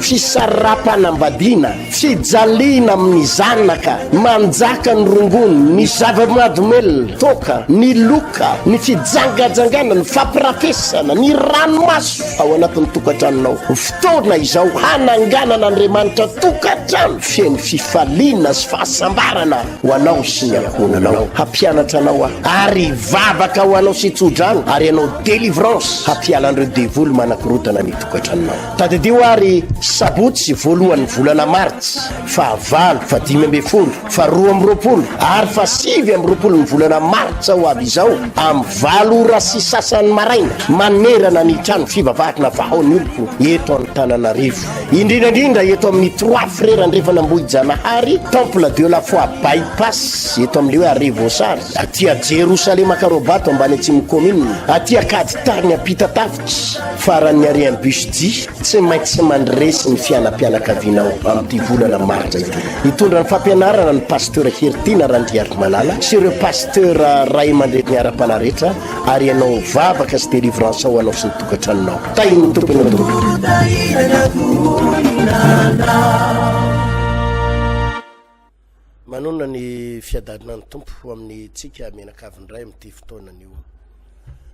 Fisarapanambadiana, fijaliana amin'ny zanaka, manjaka ny rongony, ny zava-mahadomelina, toaka, ny loka, ny fijangajangana, ny fampirafesana, ny ranomaso ao anatin'ny tokantranonao. Fotoana izao hananganan'Andriamanitra tokantrano feno fifaliana sy fahasambarana ho anao sy ny ankohonanao. Hampianatra anao aho ary hivavaka ho anao sy tso-drano ary hanao délivrance hampiala an'ireo devoly manakorotana ny tokantranonao. Tadidio ary sabotsy voalohan'ny volana martsa, faha valo, faha dimy ambin'ny folo, faha roa amby roapolo ary faha sivy amby roapolon'ny volana martsa ho avy izao amin'ny valo ora sy sasany maraina manerana ny trano fivavahana Vahaon'ny Oloko eto Antananarivo, indrindra indrindra eto amin'ny Trois Frères Andrefan'Ambohijanahary, Temple de la Foi Bypass eto amin'ilay hoe arrêt Voasary, aty Jerosalema Karobato ambany Atsimo Commune, aty Ankaditany Ampitatafo. Faran'ny harian'ny BUSJ, tsy maintsy mandresy ny fianam-pianakavianao amin'ity volana martsa ity. Hitondra ny fampianarana ny Pasteur Heritiana Randriarimalala sy ireo Pasteur ray aman-dreniny ara-panahy rehetra ary ianao vavaka sy délivrance ao anao sy ny tokantranonao. Tahin'ny Tompo ianao tompoko. Manonona ny fiadanana ny Tompo ho amin'ny tsika mianakavy indray amin'ity fotoana anio.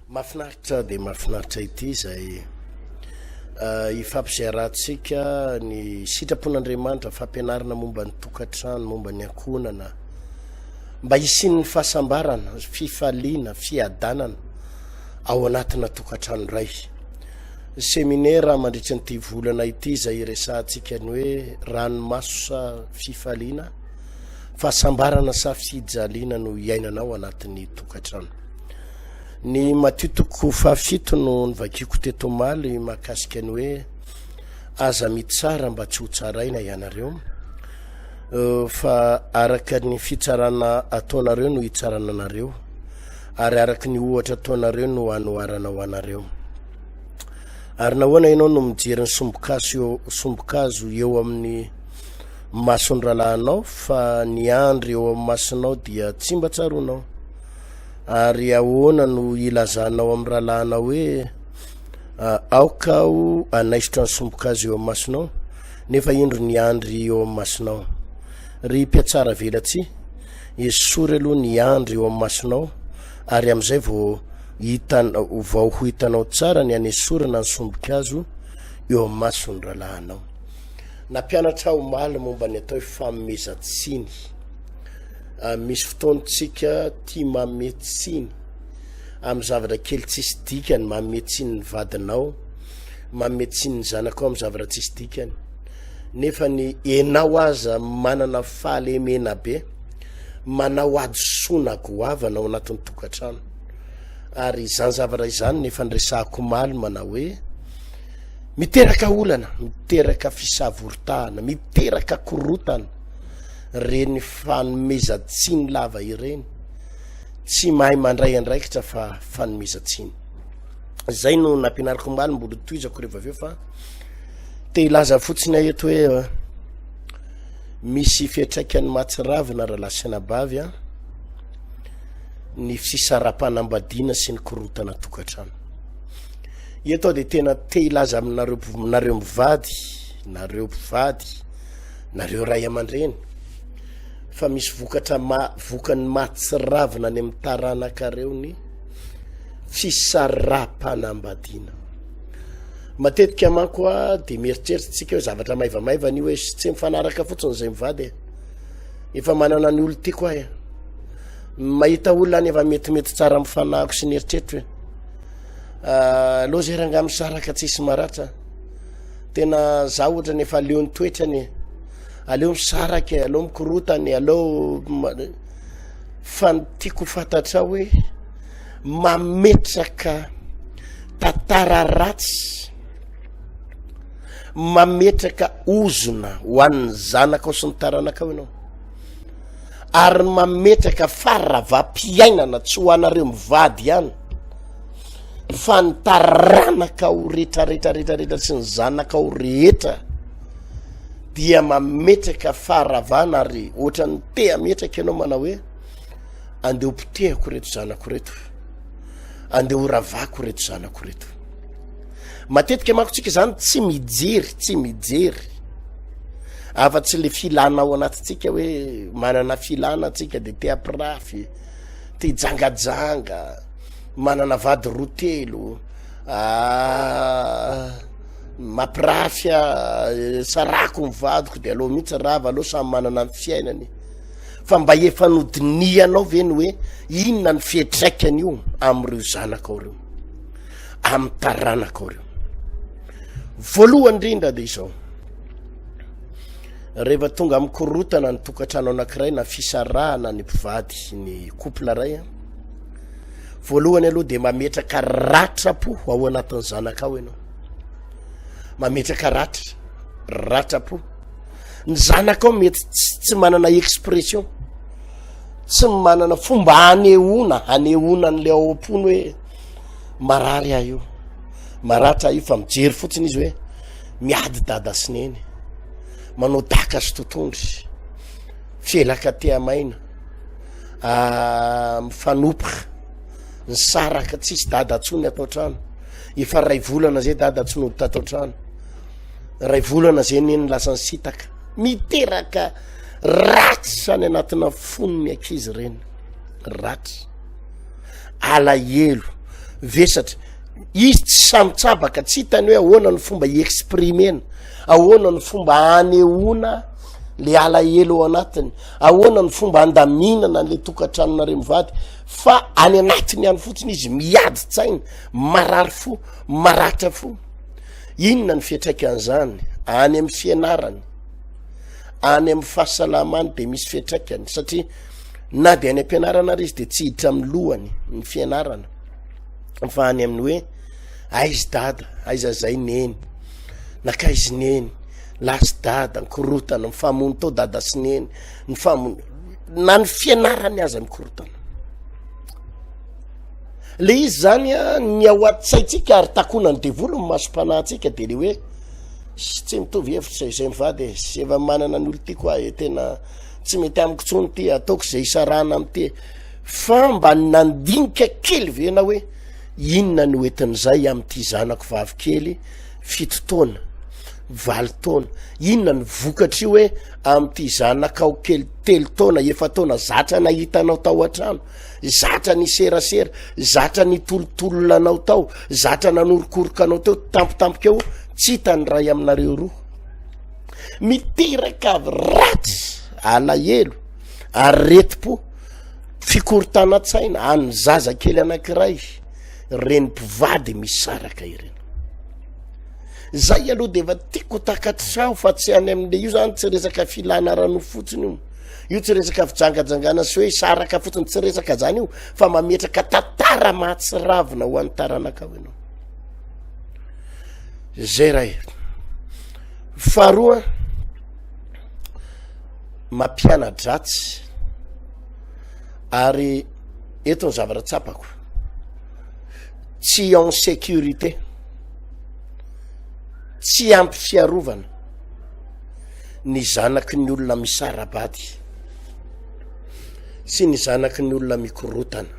Mafinaritra dia mafinaritra ity izay uh, ifampiziarantsika ny sitrapon'Andriamanitra, fampianarana momba ny tokantrano, momba ny ankohonana, mba hisian'ny fahasambarana, fifaliana, fiadanana ao anatina tokantrano iray. Seminera mandritry ny ity volana ity izay hiresahantsika ny hoe ranomaso sa fifaliana? Fahasambarana sa fijaliana no hiainana ao anatin'ny tokantrano? Ny Matio toko fahafito no nivakiako teto omaly mahakasika ny hoe aza mitsara mba tsy ho tsaraina ianareo fa araka ny fitsarana ataonareo no hitsarana anareo. Ary araka ny ohatra ataonareo no hanoharana ho anareo. Ary nahoana ianao no mijery ny sombokazo sombokazo eo amin'ny mason'ny rahalahinao fa ny andry eo amin'ny masonao dia tsy mba tsaronao? Ary ahoana no ilazanao amin'ny rahalahinao hoe ah, aoka aho anaisotra ny sombokazo eo amin'ny masonao nefa indro ny andry eo amin'ny masonao? Ry mpiatsara velatsihy, Esory aloha ny andry eo amin'ny masonao, ary amin'izay vao hitanao vao ho hitanao tsara ny hanesorana ny sombin-kazo eo amin'ny mason'ny rahalahinao. Nampianatra aho omaly momba ny atao hoe fanomezan-tsiny. Ah, misy fotoantsika tia manome tsiny amin'ny zavatra kely tsisy dikany, manome tsiny ny vadinao, manome tsiny ny zanakao amin'ny zavatra tsisy dikany. nefa ny enao aza manana fahalemena be manao adisoana goavana ao anatin'ny tokantrano ary izany zavatra izany nefa niresahako omaly manao hoe miteraka olana miteraka fisavoritahana miteraka korotana reny fanomezantsiny lava ireny tsy mahay mandray andraikitra fa fanomezantsiny izay no nampianariko omaly mbola toizako rehefa avy eo fa te hilaza fotsiny ahy eto hoe misy fiatraikany mahatsiravina raha lasenabavy a ny fisarapanambadiana sy ny korontana tokantrano eto aho dia tena te hilaza aminareo nareo mivady nareo mpivady nareo ray aman-dreny fa misy vokatra ma vokany mahatsiravina any amin'ny taranakareo ny fisarapanambadiana Matetika manko a dia mieritreritsika hoe zavatra maivamaivana io hoe tsy mifanaraka fotsiny izay mivady e. Efa manana ny olon-tiako ahy. Mahita olona any efa metimety tsara amin'ny fanahiko sy ny eritreritro e. Ah, aleo zay rangah misaraka tsisy maratra. Tena za ohatra ny efa leo ny toetrany e. Aleo misaraka e, aleo mikorotana e, aleo fa ny tiako fantatra hoe mametraka tantara ratsy mametraka ozona ho an'ny zanaka ao sy ny taranaka ao ianao ary mametraka faravampiainana tsy ho anareo mivady ihany fa ny taranaka ao retraretraretraretra sy ny zanaka ao rehetra dia mametraka faharavana ary ohatran'ny te ametraka ianao manao hoe andeha ho potehako ireto zanako ireto andeha ho ravako ireto zanako ireto matetika mako tsika zany tsy mijery tsy mijery afa-tsy le filana ao anatintsika hoe manana filana tsika de te apirafy te jangajanga manana vady roa telo ah, mapirafy ah, sarako ny vadiko de aloha mihitsy rava aloha samy manana ny fiainany fa mba efa nodinihanao ve ny hoe inona ny fihetraikany io amin'ireo zanaka ao reo amin'ny taranaka ao reo voalohany indrindra dia izao rehefa tonga amin'ny korotana ny tokantrano anankiray na fisarahana ny mpivady ny couple ray a voalohany aloha dia mametraka ratrapo ao anatin'ny zanaka ao ianao mametraka ratra ratrapo ny zanakao mety tsy manana expression tsy manana fomba hanehoana hanehoana an'le ao am-pony hoe marary ah io maratra ah io fa mijery fotsiny izy hoe miady dada sineny manao daka sy totondry fielaka tehamaina ah, mifanopra ny saraka tsisy dada tso ny atao trano efa ray volana zay dada tsy nodita atao trano Ray volana zay neny lasa nisitaka miteraka ratsy any anatina fony ny akizy ireny ratsy alahelo vesatra izy tsy samitsabaka tsy hitany hoe ahoana ny fomba iexprimena ahoana ny fomba anehoana le alahelo ao anatiny ahoana ny fomba andaminana le tokatranonare mivady fa any anatiny any fotsiny izy miady tsaina marary fo maratra fo Inona ny fiatraikan'izany any amin'ny fianarany? Any amin'ny fahasalamany dia misy fiatraikany satria na dia any am-pianarana ary izy dia tsy hiditra amin'ny lohany ny fianarana fa any amin'ny hoe aizy dada aiza zay neny nakaizy neny lasy dada nkorotana mifamono tao dada sy neny ny famono na ny fianarany aza mikorotana Le izy zany a ny ao an-tsaintsika ary takonan'ny devoly ny masom-panahintsika de le hoe sy tsy mitovy hevitra izay mivady e sy efa manana ny olon-tiako ahy e tena tsy mety amiko tsony ty ataoko izay isarahana amin'ity e fa mba nandinika kely ve na hoe inona ny hoentin'izay amin'ity zanako vavikely fito taona valo taona inona ny vokatry hoe amin'ity zanakao kely telo taona efa taona zatra nahitanao tao an-trano Zatra niserasera, zatra nitolotolona anao tao, zatra nanorokoroka anao teo, tampotampoka eo, tsy hita ny ray aminareo roa. Miteraka avy ratsy, alahelo, aretim-po, fikorontanan-tsaina an'ny zazakely anankiray, reny mpivady misaraka ireny. Zay aloha dia efa tiako takatrao fa tsy any amin'le io zany tsy resaka filana rano fotsiny io. Io tsy resaka fijangajangana sy hoe hisaraka fotsiny, tsy resaka zany io fa mametraka tantara mahatsiravina ho an'ny taranakao ianao. Zay ray. Faharoa, mampiana-dratsy ary eto ny zavatra tsapako tsy en sécurité tsy ampy fiarovana ny zanaky ny olona misara-bady sy ny zanaky ny olona mikorotana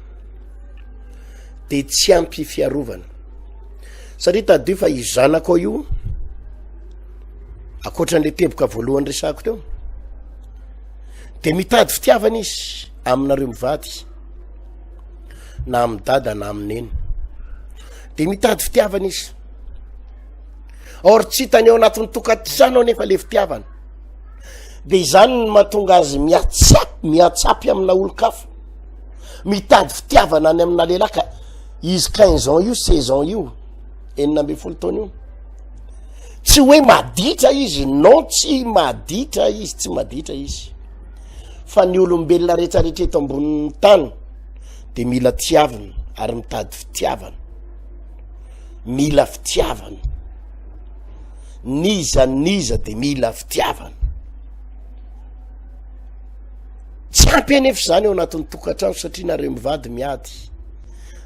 de tsy ampy fiarovana satria tadio fa i zanako io akoatran'le teboka voalohany resako teo de mitady fitiavana izy aminareo mivady na amin'ny dada na amin'neny de mitady fitiavana izy or tsy hitany ao anatin'ny tokantrano anefa le fitiavana de izany ny matonga azy miatsap miatsapy amina olon-kafa mitady fitiavana any amina lehilahy ka izy quinze ans io seize ans io enina amby folo taona io tsy hoe maditra izy non tsy maditra izy tsy maditra izy fa ny olombelona rehetrarehetra eto ambonin'ny tany de mila tiavina ary mitady fitiavana mila fitiavana niza niza de mila fitiavana tsy ampy anefa izany eo anatin'ny tokantrano satria nareo mivady miady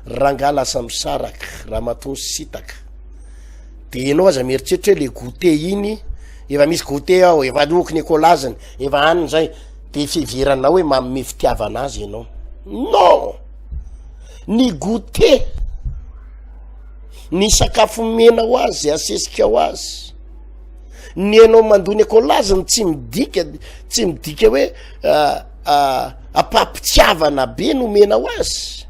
rangah lasa misaraka raha matony sitaka de ianao aza mieritreritra hoe le gote iny efa misy gote ao efa loky ny ekolaziny efa aniny zay de fiheveranao hoe maome fitiavana azy ianao non Ny goûter, ny sakafo mena ho azy, asesika ho azy. Ny enao mandoa ny akolaziny tsy midika tsy midika hoe ah, ah, ampampitiavana be no mena ho azy.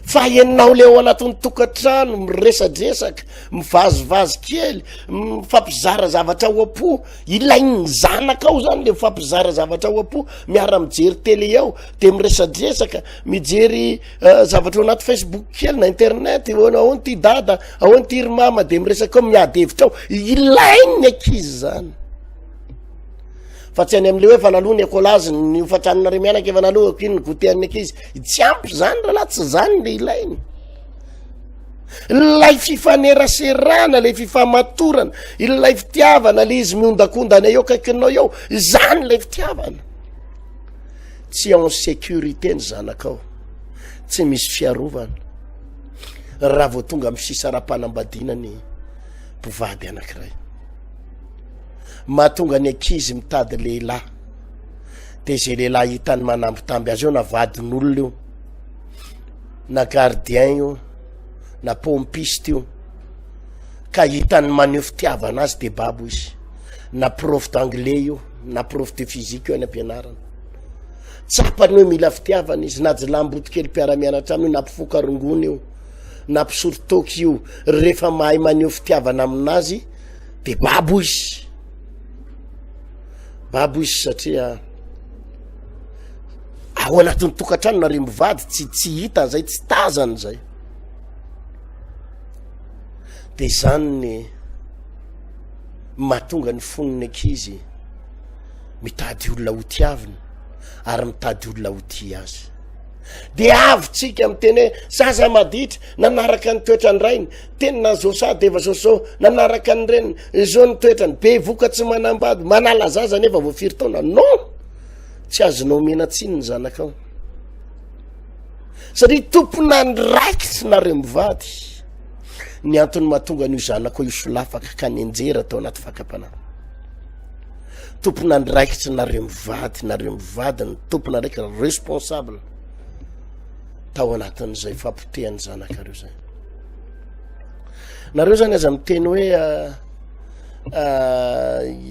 Fa enao le ao anatin'ny tokantrano miresadresaka, mivazivazy kely, mifampizara zavatra ao am-po. Ilain'ny zanakao zany le mifampizara zavatra ao am-po, miara mijery télé ao, de miresadresaka, mijery eh, zavatra ao anaty Facebook kely na internet, ahoana ahoana ty dada, ahoana ty ry mama, de miresaka ao, miady hevitra ao. Ilain'ny ankizy zany. Fa tsy any amin'le hoe fa naloha ny écolage, ny hofan-tranonareo mianaka efa naloha, ko iny ny goûter an'ny ankizy. Tsy ampy zany rahalahy, tsy zany le ilainy. Ilay fifaneraserana, ilay fifamatorana, ilay fitiavana, ilay izy miondakondana eo kaikinao eo, izany ilay fitiavana. Tsy ao en sécurité ny zanakao, tsy misy fiarovana. Raha vao tonga amin'ny fisarapanambadiana ny mpivady anankiray. Mahatonga ny ankizy mitady lehilahy. Dia izay lehilahy hitany manambitamby azy eo na vadin'olona io. na gardien io na pompiste io ka hitany maneho fitiavana azy de babo izy na prof d'anglais io na prof de physique io any ampianarana tsapany hoe mila fitiavana izy na jilamboto kely mpiara-mianatra aminy na mpifoka rongony io na mpisoritoka io rehefa mahay maneho fitiavana aminazy de babo izy babo izy satria Ao anatin'ny tokantrano na rembivady tsy tsy hita zay tsy tazany zay de zany ny mahatonga ny fonony ankizy mitady olona ho tiaviny ary mitady olona ho ti azy de avontsika am teny hoe zaza maditra nanaraka ny toetrany rainy teny na zosa de efa zoso nanaraka ny reniny zo ny toetrany be voka tsy manambady manala zaza nefa voafiry taona non tsy azonao omena tsiny ny zanakao satria tompona ny raiky tsy nareo mivady ny antony mahatonga an'io zanako io solafaka ka ny enjera atao anaty fakapana tompona ny raiky tsy nareo mivady nareo mivady ny tompona raiky responsable tao anatin'izay fapotehan'ny zanakareo zay nareo zany aza miteny hoe ah,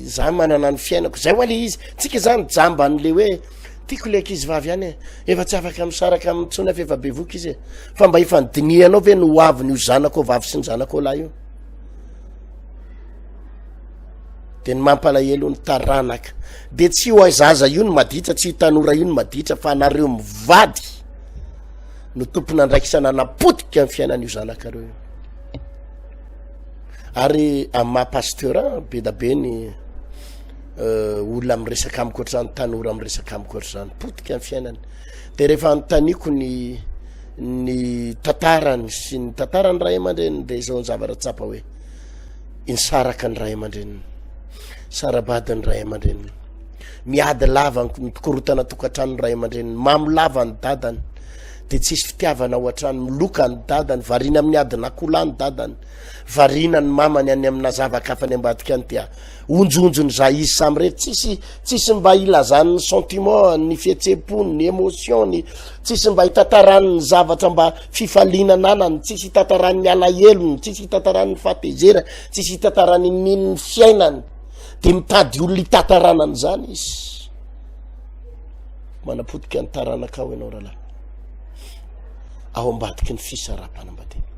za manana ny fiainako zay hoa le izy tsika zany jamba an'le hoe tiako le ankizy vavy any e efa tsy afaka misaraka amin'ny tsony afa efa bevoka izy e fa mba efa ny dinihanao ve no hoaviny io zanako ao vavy sy ny zanako ao lahy io de ny mampalahelo ny taranaka de tsy ho aizaza io ny maditra tsy hitanora io ny maditra fa anareo mivady no tompona andraikisana napotika ny fiainan'io zanakareo io Ary amin'ny maha pasteur be da be ny euh, olona miresaka amiko ohatr'izany tanora miresaka amiko ohatr'izany potika ny fiainany de rehefa anontaniako ny ny tantarany sy ny tantarany ray aman-dreniny de izao ny zavatra tsapa hoe insaraka ny ray aman-dreniny sarabady ny ray aman-dreniny miady lava mikorotana tokantrano ny ray aman-dreniny mamy lava ny dadany dia tsisy fitiavana ao an-trano miloka ny dadany variana amin'ny adin'akoholahy ny dadany variana ny mamany any amina zava-kafa any ambadika any dia onjonjo ny zah izy samy rery tsisy tsisy mba hilazan'ny sentiment ny fihetsem-pony ny émotion ny tsisy mba hitatarany ny zavatra mba fifaliana nanany tsisy hitatarany ny alahelony tsisy hitatarany ny fahatezerany tsisy hitatarany nyn'ny fiainany dia mitady olona hitatarana an'izany izy Manapotika ny taranakao ianao rahalahy. Ao ambadiky ny fisaraham-panambadiana.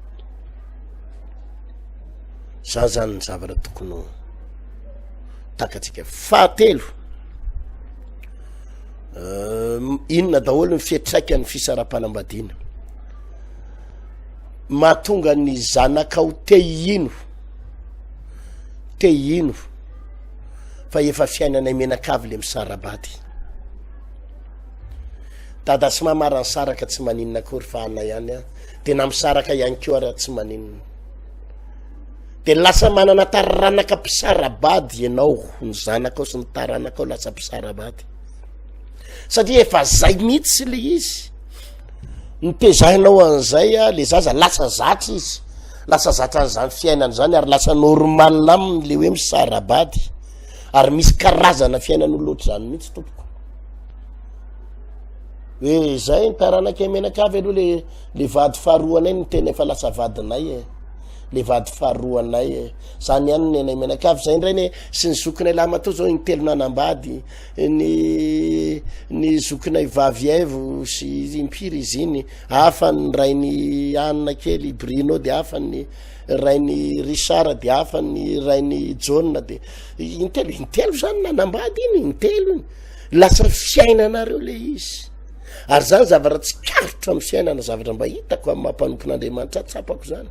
Za zany ny zavatra tokony ho takatsika. Fahatelo. Ehm, inona daholo ny fiatraikany fisaraham-panambadiana. Mahatonga ny zanakao te hino. Te hino fa efa fiainanay menakavy le misarabady. Dada sy mama raha nisaraka tsy maninona akory fa ana ihany a dia na misaraka ihany koa raha tsy maninona dia lasa manana taranaka mpisarabady ianao ny zanakao sy ny taranakao lasa mpisarabady satria efa zay mihitsy le izy nitezahinao an'izay a le zaza lasa zatra izy lasa zatra an'izany fiainana izany ary lasa normale aminy le hoe misarabady ary misy karazana fiainan'olona ohatr'izany mihitsy tompoko hoe zay ny taranakay menakavy aloha le le vady faharoanay ny tena efa lasa vadinay e le vady faharoanay e zany ihany ny anay menakavy zay indray ny sy ny zokinay lamatoa zao ny telo nanambady ny ny zokinay vavy aivo sy impiry izy iny hafa ny rainy anina kely brino de hafa ny rainy richard de hafa ny rainy jaona de intelo intelo zany nanambady iny intelo iny lasa fiainanareo le izy ary zany zavatra tsy karotro amn'ny fiainana zavatra mba hitako am mampanompon'andriamanitra tsapako zany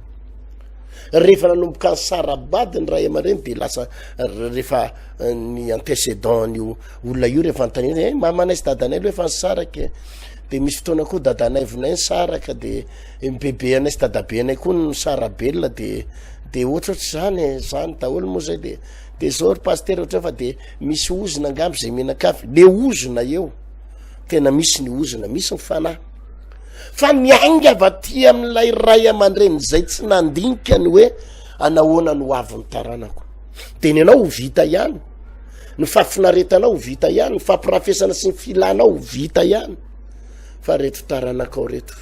rehefa nanomboka ny sarabady ny ray aman-dreny de lasa rehefa eh, ny antecedent nyo olona io rehefa antane e eh, mamanay sy dadanay loha efa ny saraka e. de misy fotoana koa dadanay vonay ny saraka de MPB anay sy dadabe anay koa no sarabelona de de ohatrohatr' izany e, zany daholo moa zay de de zao ry pasitera ohatrany fa de misy ozona angamba izay mianakavy le ozona eo tena misy ny ozona misy ny fanahy fa miainga avy aty amin'ilay ray aman-dreny izay tsy nandinika ny hoe anahoana no avin'ny taranako de ny anao ho vita ihany ny fahafinaretanao ho vita ihany ny fampirafesana sy ny filanao ho vita ihany fa reto taranakao reto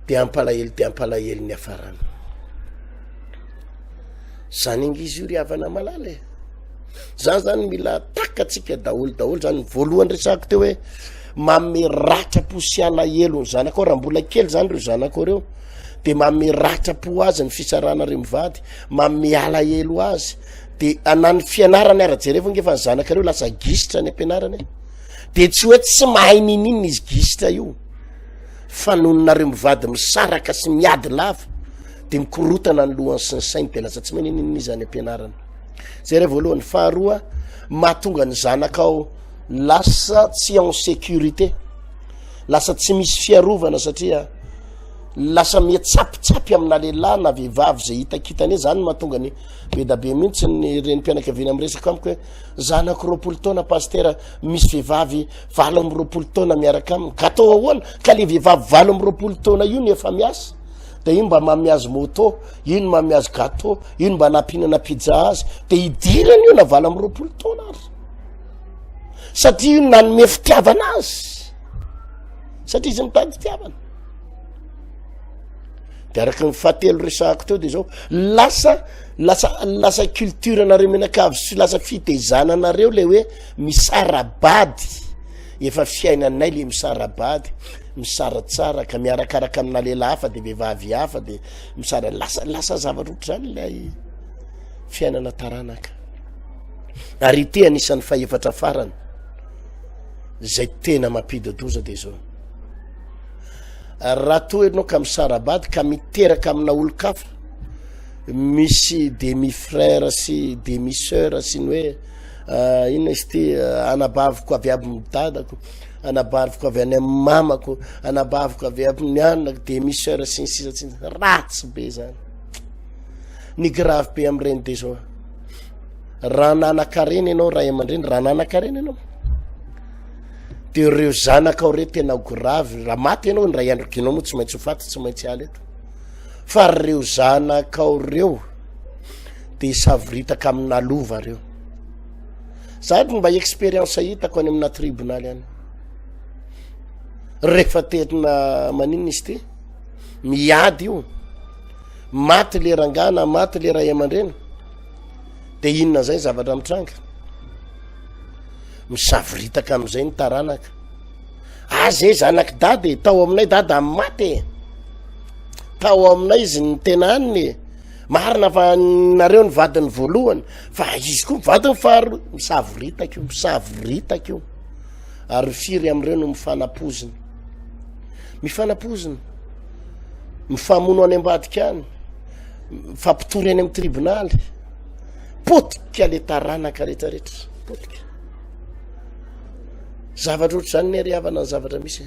be ampalahelo be ampalahelo ny afarana zany ange izy io ry havana malala e zany zany mila takatsika daholo daholo zany ny voalohany resako teo hoe mame ratrapo sy alahelo ny zanaka ao raha mbola kely zany reo zanaka o reo de mame ratrapo azy ny fisarana reo mivady mame alahelo azy de anany fianarany ara-jerevonge fa ny zanakareo lasa gisitra ny ampianarana e de tsy hoe tsy mahay nininona izy gisitra io fa nononareo mivady misaraka sy miady lava de mikorotana ny lohany sy ny sainy de lasa tsy mahay nininona izy any ampianarana zay re voalohany faharoa mahatonga ny zanaka ao lasa tsy en sécurité lasa tsy misy fiarovana satria lasa mia tsapitsapy amina lehilahy na vehivavy zay hitakitana e zany mahatonga ny bedabe mihitsy ny reny mpianakaviana miresaka amiko hoe Zanako roapolo taona pasitera misy vehivavy valo amby roapolo taona miaraka aminy ka atao ahoana ka le vehivavy valo amby roapolo taona io ny efa miasa de ino mba mamy azy moto ino mamy azy gato ino mba nampihinana pizza azy de hidirany io na valo amby roapolo taona ary satria io nanome fitiavana azy satria izy mitady fitiavana de araka ny fahatelo resahako teo de zao lasa lasa lasa culture anareo menakavy sy lasa fitezana anareo le hoe misarabady efa fiainanay le misarabady misara tsara ka miarakaraka amina lela hafa de vehivavy hafa de misara lasa lasa zavatra ohatra zany lay fiainana taranaka ary ity anisan'ny fahefatra farany zay tena mampidodoza de zao Raha toa ianao ka misara-bady ka miteraka amina olon-kafa, misy demi frère sy demi sœur sy ny hoe uh, inona izy ity uh, anabaviko avy aby ny dadako anabariko avy any amin'ny mamako anabaviko avy amin'ny anako demi sœur sy ny sisa tsy ratsy be zany ny grave be amin'ireny de zao raha nanakarena ianao raha aman-dreny raha nanakarena ianao de reo zanakao re tena gravy raha maty ianao ndray andro kinao moa tsy maintsy ho faty tsy maintsy ala eto fa reo zanakao reo de isavoritaka amina lova reo zady mba expérience hitako any amina tribonaly any rehefa tena maninona izy ty miady io maty le rangana maty le ray aman-dreny de inona zay zavatra mitranga Misavoritaka amin'izay ny taranaka. Aza e zanak'i dada e, tao aminay dada amin'ny maty e. Tao aminay izy ny tena aniny e. Marina fa nareo ny vadiny voalohany fa izy koa vadiny faharoa. Misavoritaka io, misavoritaka io. Ary firy amin'ireo no mifanapozina. Mifanapozina. Mifamono any ambadika any. Mifampitory any amin'ny tribonaly. potika le taranaka retraretra potika zavatra ohatra zany ny ary havana ny zavatra misy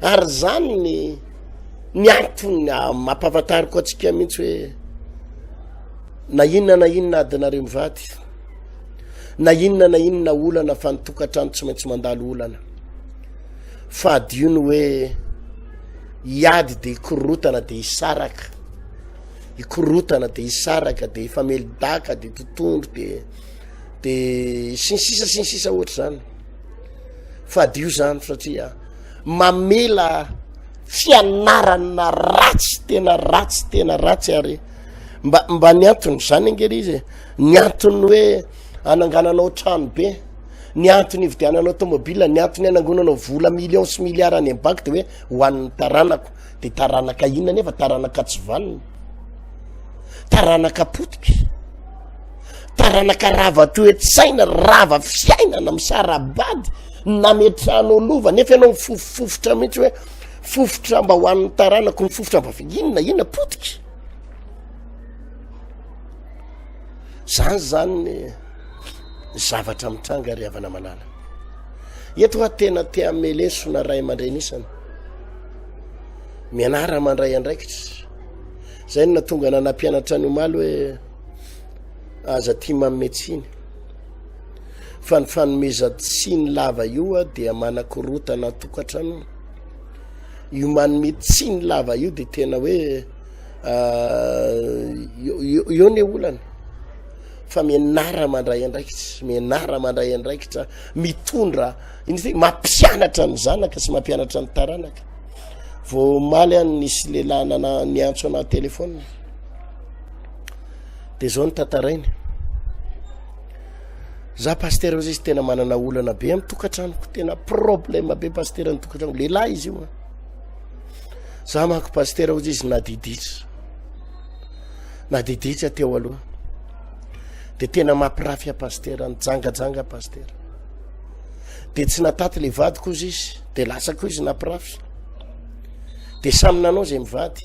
ary zany ny ny antony mampahafantariko atsika mihitsy hoe na inona na inona adinareo mivady na inona na inona olana fa nytokantrano tsy maintsy mandalo olana fa adio ny hoe hiady de hikorotana de hisaraka hikorotana de hisaraka de hifamelidaka de totondro de de sy ny sisa sy ny sisa ohatra zany fadio zany satria mamela fianarana ratsy tena ratsy tena ratsy ary mba mba ny antony zany angely izy e. ny antony hoe anangananao trano be ny antony hividiananao tomobila ny antony anangonanao vola million sy milliara any ambanky de hoe ho an'ny taranako Dia taranaka inona anefa? Taranaka tsy vanona, taranaka potika, taranaka rava toe-tsaina, rava fiainana, misara-bady, nametrahana lova nefa ianao mifofofofotra mihitsy hoe fofotra mba ho an'ny taranako, mifofotra mba inona inona potika. Zany zany ny zavatra mitranga ry havana malala. Eto hoa tena te hamelesona ray aman-drenisana. Mianara mandray andraikitra. Zay no natonga na nampianatra ny omaly hoe aza tia manome tsiny. Fa ny fanomezan-tsiny lava io dia manakorotana tokantrano. Io manome tsiny lava io dia tena hoe eo ny olana fa mianara mandray andraikitra mianara mandray andraikitra mitondra Iny ve mampianatra ny zanaka sy mampianatra ny taranaka. Vao omaly any nisy lehilahy nana niantso ana telefona. Dia zao ny tantarainy. Za pasteur ozy izy tena manana olana be amin'ny tokantranoko. Tena problème be pasteur ny tokantrano. Lehilahy izy io. Za manko pasteur ozy izy nadiditra. Nadiditra teo aloha. Dia tena mampirafy a pasteur, nijangajanga pasteur. dia tsy nataty le vady koza izy dia latsa ko izy napirafy de samy nanao zay mivady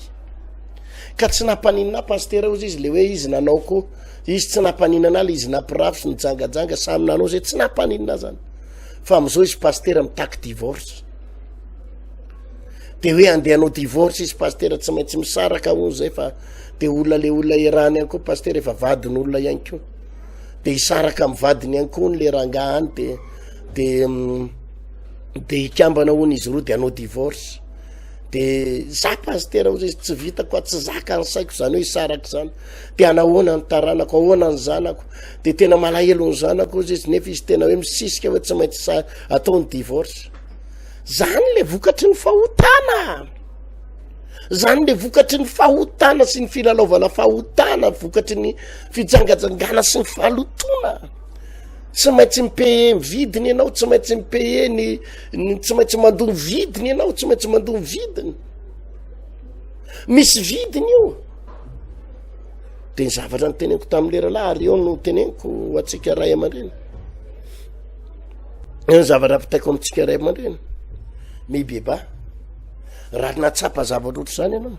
ka tsy nampaninana pastera ozy izy le hoe izy nanao ko izy tsy nampaninana le izy napirafy ny jangajanga samy nanao zay tsy nampaninana zany fa am'izao izy pastera mitaky divorce de hoe andeha anao divorce izy pastera tsy maintsy misaraka ozy zay fa de olona le olona irany any koa pastera efa vadin'olona ihany ko de hisaraka amin'ny vadiny ihany koa hono le rangahy any de de mm, de hikambana hono izy roa de hanao divorce de za pastera ozy izy tsy vitako a tsy zaka ny saiko zany hoe hisaraka zany de anahoana ny taranako ahoana ny zanako de tena malahelo ny zanako ozy izy nefa izy tena hoe misisika hoe tsy maintsy sa atao ny divorce zany le vokatry ny fahotana Zany le vokatry ny fahotana sy ny filalaovana fahotana vokatry ny fijangajangana sy ny fahalotoana tsy maintsy mipehe ny vidiny ianao tsy maintsy mipehe ny tsy maintsy mandoa ny vidiny ianao tsy maintsy mandoa ny vidiny misy vidiny io de ny zavatra ny teneniko tamin'ny leralahy ary eo no teneniko atsika ray aman-dreny eo ny zavatra mpitaiko amintsika ray aman-dreny mibeba Raha natsapa zavatra ohatr'izany ianao,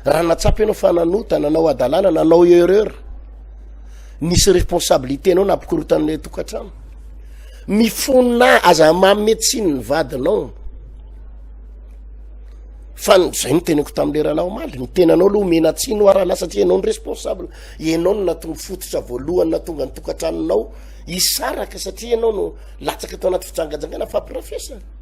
raha natsapa ianao fa nanota, nanao hadalana, nanao erreur, nisy responsabilité anao nampikorotan'ilay tokantrano, mifona aza mame tsiny ny vadinao, fa zay no tenako tamin'ilay rahalahy omaly, ny tenanao aloha omena tsiny ho arahalahy satria ianao ny responsable, ianao no nahatonga fototra voalohany nahatonga ny tokantranonao hisaraka satria ianao no latsaka tao anaty fijangajangana fampirafesana.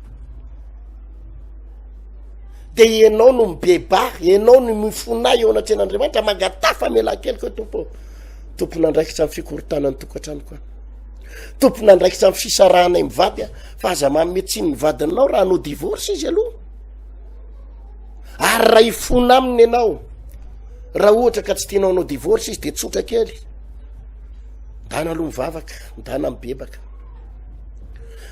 de ianao no mibeba ianao no mifona eo anatrehan'andriamanitra mangataha famelan-kelo koa tompo tompona andraikitra amin'ny fikorontanan'ny tokantrano koa tompona andraikitra amin'ny fisarahanay mivady a fa aza mametsiny ny vadinao raha anao divorce izy aloha ary raha ifona aminy ianao raha ohatra ka tsy tianao anao divorce izy de tsotra kely ndana aloha mivavaka ndana mibebaka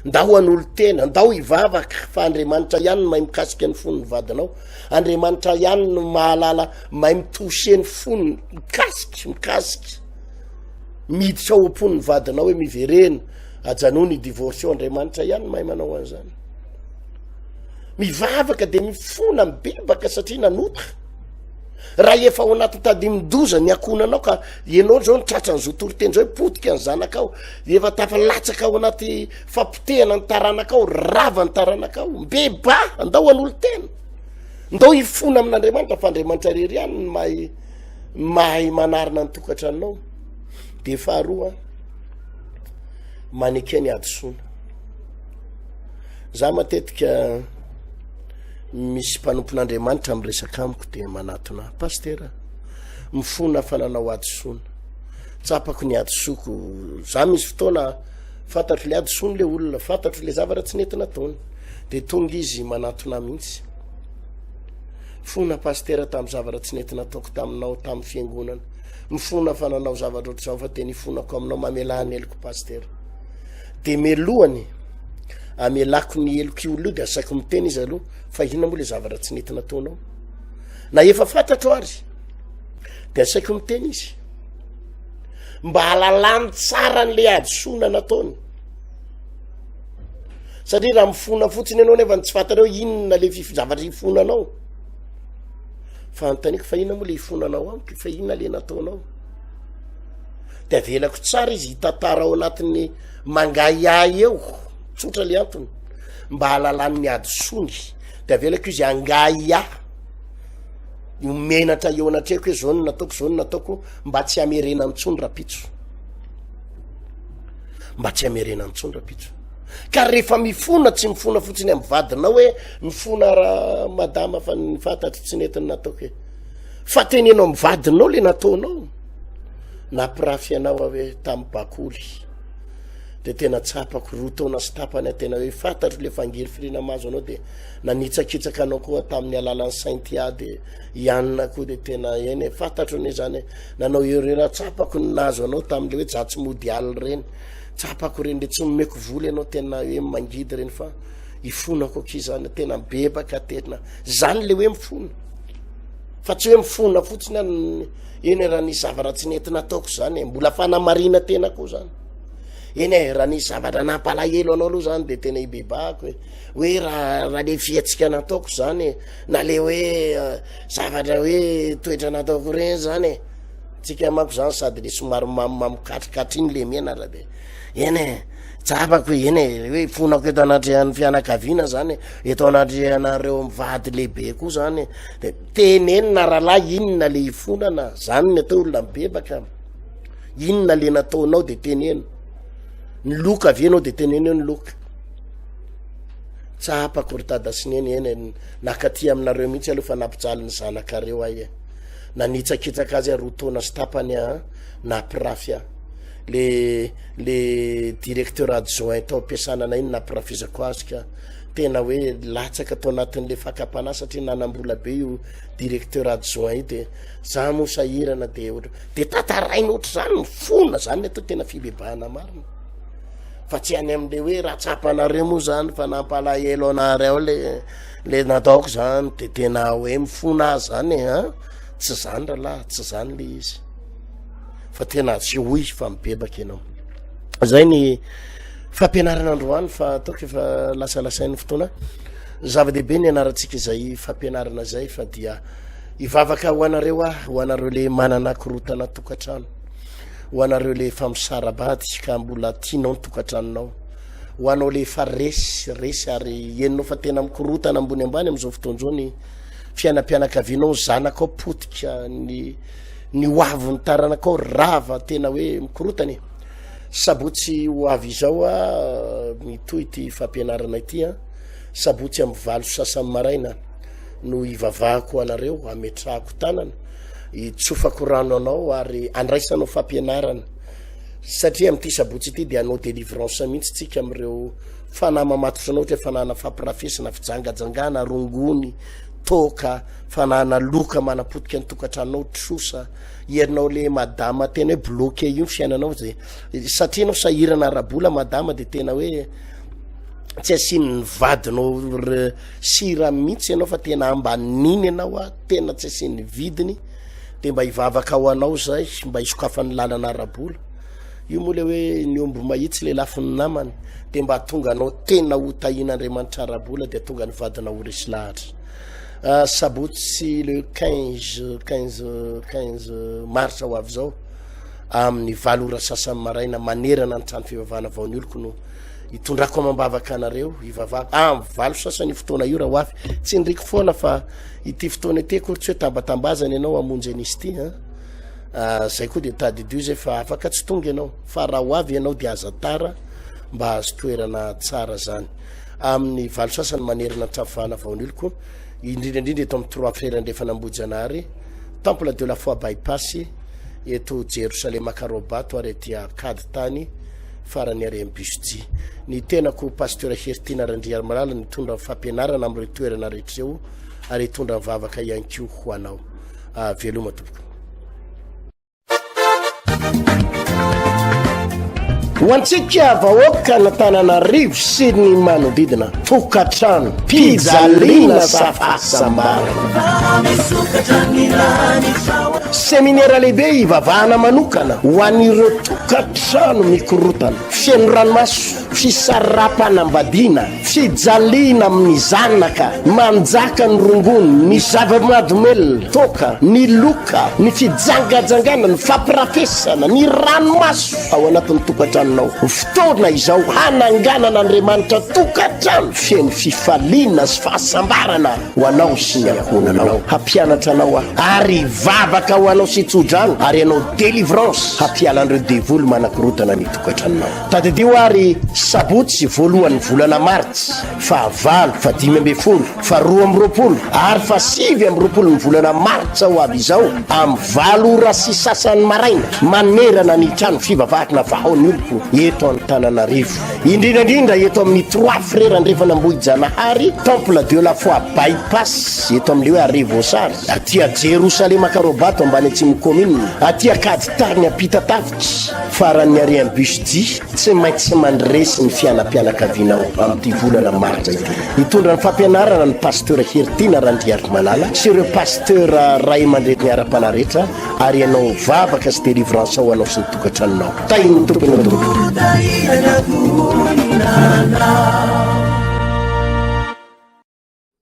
Ndao hanolo-tena, ndao hivavaka fa Andriamanitra ihany no mahay mikasika ny fon'ny vadinao. Andriamanitra ihany no mahalala mahay mi-toucher ny fony, mikasika, mikasika. Miditra ao am-pon'ny vadinao hoe miverena, ajanony ny divorce Andriamanitra ihany no mahay manao an'izany. Mivavaka dia mifona, mibebaka satria nanota. Raha efa ao anaty tadimin-doza ny ankohonanao ka ianao izao ny tratran'ny zo toriteny izao hoe potika ny zanakao, efa tafalatsaka ao anaty fampotehana ny taranakao, rava ny taranakao, mbeba, andao an'olo-tena. Ndao hifona amin'Andriamanitra fa Andriamanitra rery ihany ny mahay mahay manarina ny tokantranonao. Dia faharoa, maneke ny hadisoana. Za matetika misy mpanompon'Andriamanitra miresaka amiko dia manatona ahy, Pasitera, mifona fa nanao hadisoana. Tsapako ny hadisoako. Za misy fotoana fantatro le hadisoany le olona, fantatro le zavatra tsy nety nataony. Dia tonga izy manatona mihitsy. Fona pasitera tamin'ny zavatra tsy nety nataoko taminao tamin'ny fiangonana. Mifona fa nanao zavatra ohatr'izao fa dia nifonako aminao mamelà ny heloko pasitera. De melohany amelako ny heloko io aloha de asaiko miteny izy aloha fa inona moa le zavatra tsy nety nataonao na efa fantatro ary de asaiko miteny izy mba halalany tsara an'le hadisoana nataony satria raha mifona fotsiny ianao nefa ny tsy fantanao inona le fifizavatra hifonanao fa antaniko fa inona moa le hifonanao amiko fa inona le nataonao De avelako tsara izy hitantara ao anatin'ny mangahiahy eo, tsotra le antony, mba halalan'ny hadisoany, de avelako izy hangahiahy, ho menatra eo anatrehako hoe zao no nataoko, zao no nataoko, mba tsy hamerena intsony rapitso, mba tsy hamerena intsony rapitso, ka rehefa mifona tsy mifona fotsiny amin'ny vadinao hoe mifona ra- madama fa ny fantatro tsy nety ny nataoko e, fa teneno amin'ny vadinao le nataonao. Napirafy anao aho hoe tamin'ny bakoly dia tena tsapako roa taona sy tapany tena hoe fantatro le fangirifiriana mahazo anao dia nanitsakitsaka anao koa tamin'ny alalan'ny sainty ahy dia ianina koa dia tena eny e, fantatro ny izany nanao erreur tsapako ny nahazo anao tamin'le hoe jatsy mody alina ireny tsapako ireny dia tsy nomeko vola ianao tena hoe mangidy ireny fa ifonako aky izany tena bebaka tena izany le hoe mifona Fa tsy hoe mifona fotsiny aho eny e raha nisy zavatra tsy nety nataoko zany e, mbola fanamarina tena koa zany. Eny e raha nisy zavatra nampalahelo anao aloha zany de tena ibebahako e. Hoe raha raha le fihetsika nataoko zany e, na le hoe eh, zavatra hoe toetra nataoko ireny zany e. Tsika manko zany sady le somary mamimamy katrikatry iny le mianatra de eny e. Tsapako hoe eny e, hoe fonako eto anatrehan'ny fianakaviana zany e, eto anatrehanareo mivady lehibe koa zany e, de tenenina rahalahy inona le ifonana, zany ny atao olona mibebaka, inona le nataonao de teneno, ny loka avy enao de teneneo ny loka. Tsapako ry dada sy neny eny e, nakaty aminareo mihitsy aloha fa nampijaly ny zanakareo ahy e, nanitsakitsaka azy aho roa taona sy tapany aho, nampirafy aho le le directeur adjoint tao am-piasana anay iny nampirafizako azy ka tena hoe latsaka tao anatin'le fakam-panahy satria nanam-bola be io directeur adjoint io de za moa sahirana de ohatra de tantaraina ohatra zany ny fona zany atao tena fibebahana marina fa tsy any am'le hoe raha tsapanareo moa zany fa nampalahelo anareo le le nataoko zany de tena hoe mifona azy zany e a tsy zany rahalahy tsy zany le izy fa tena asehoy fa mibebaka ianao zay ny fampianarana androany fa ataoko efa lasalasain'ny fotoana zava-dehibe ny anarantsika izay fampianarana zay fa dia ivavaka ho anareo ah ho anareo le manana korotana tokantrano ho anareo le famisarabady ka mbola tianao ny tokantranonao ho anao le fa resy resy ary enonao fa tena mikorotana ambony ambany am'izao fotoanzao ny fiainam-pianakavianao zanakao potika ny ny ho avy ny taranakao rava tena hoe mikorotana e sabotsy ho avy izao a mitohy ty fampianarana ity a sabotsy amin'ny valo sasan'ny maraina no hivavahako anareo ametrahako tanana hitsofako rano anao ary andraisanao fampianarana satria amin'ity sabotsy ity dia anao délivrance mihitsy tsika amin'ireo fanahy mamatotranao ohatra fanana fampirafesina fijangajangana rongony Toaka fanana loka manapotika ny tokatranonao trosa ianao le madama tena hoe bloqué io ny fiainanao zay satria anao sahirana arabola madama de tena hoe tsy asian'ny vadinao sira mihitsy ianao fa tena ambaniny ianao a tena tsy asian'ny vidiny de mba hivavaka ho anao zay mba hisokafan'ny lalana arabola Io moa le hoe ny omby mahitsy le lafiny namany dia mba tonga anao tena ho tahin'Andriamanitra ara-bola dia tonga ny vadinao ho resy lahatra. Ah, sabotsy le 15, 15, 15 marsa ho avy izao amin'ny valo ora sasany maraina manerana ny trano fivavahana vao ny oloko no hitondrako amam-bavaka anareo hivavahako ah, amin'ny valo sasany io fotoana io raha ho avy. Tsindriko foana fa ity fotoana ity akory tsy hoe tambatambazana ianao hamonjy an'izy ity. ah, zay koa dia tadidio zay fa afaka tsy tonga ianao fa raha ho avy ianao dia aza tara mba hahazo toerana tsara zany amin'ny valo sasany manerana trafo fahana vaoniliko indrindra indrindra eto amin'ny trois frères andrefana ambojanahary temple de la foi bypass eto jerosalema karobato ary aty akady tany farany ary ambusji ny tenako pasteur heritina randriarimalala nitondra fampianarana amin'ireo toerana rehetra ireo ary hitondra ny vavaka ihany koa ho anao Ah, veloma tompoko. Ho antsika vahoaka an'Antananarivo sy ny manodidina, tokantrano, pijaliana safasambara. Seminera lehibe hivavahana manokana ho an'ireo tokantrano mikorotana, feno ranomaso. Fisarapanambadiana, fijaliana amin'ny zanaka, manjaka ny rongony, ny zava-mahadomelina, toaka, ny loka, ny fijangajangana, ny fampirafesana, ny ranomaso ao anatin'ny tokantranonao. Fotoana izao hananganan'Andriamanitra tokantrano feno fifaliana sy fahasambarana ho anao sy ny ankohonanao. Hampianatra anao aho ary hivavaka ho anao sy tso-drano ary hanao délivrance hampiala an'ireo devoly manakorotana ny tokantranonao. Tadidio ary sabotsy voalohan'ny volana martsa, faha valo, faha dimy ambin'ny folo, faha roa amby roapolo ary faha sivy amby roapolon'ny volana martsa ho avy izao amin'ny valo ora sy sasany maraina manerana ny trano fivavahana Vahaon'ny Oloko eto Antananarivo, indrindra indrindra eto amin'ny Trois Frères Andrefan'Ambohijanahary, Temple de la Foi By-pass eto amin'ny hoe Arret Voasary, aty Jerosalema Karobato ambany Atsimo Commune, aty Ankaditany Ampitatafo. Faran'ny harian'ny BUSJ, tsy maintsy mandresy ny fianam-pianakavianao amin'ity volana martsa ity. Hitondra ny fampianarana ny Pasteur Heritiana Randriarimalala sy ireo Pasteur ray aman-dreniny ara-panahy rehetra ary ianao vavaka sy délivrance ho anao sy ny tokantranonao. Tahin'ny Tompo ianao tompoko.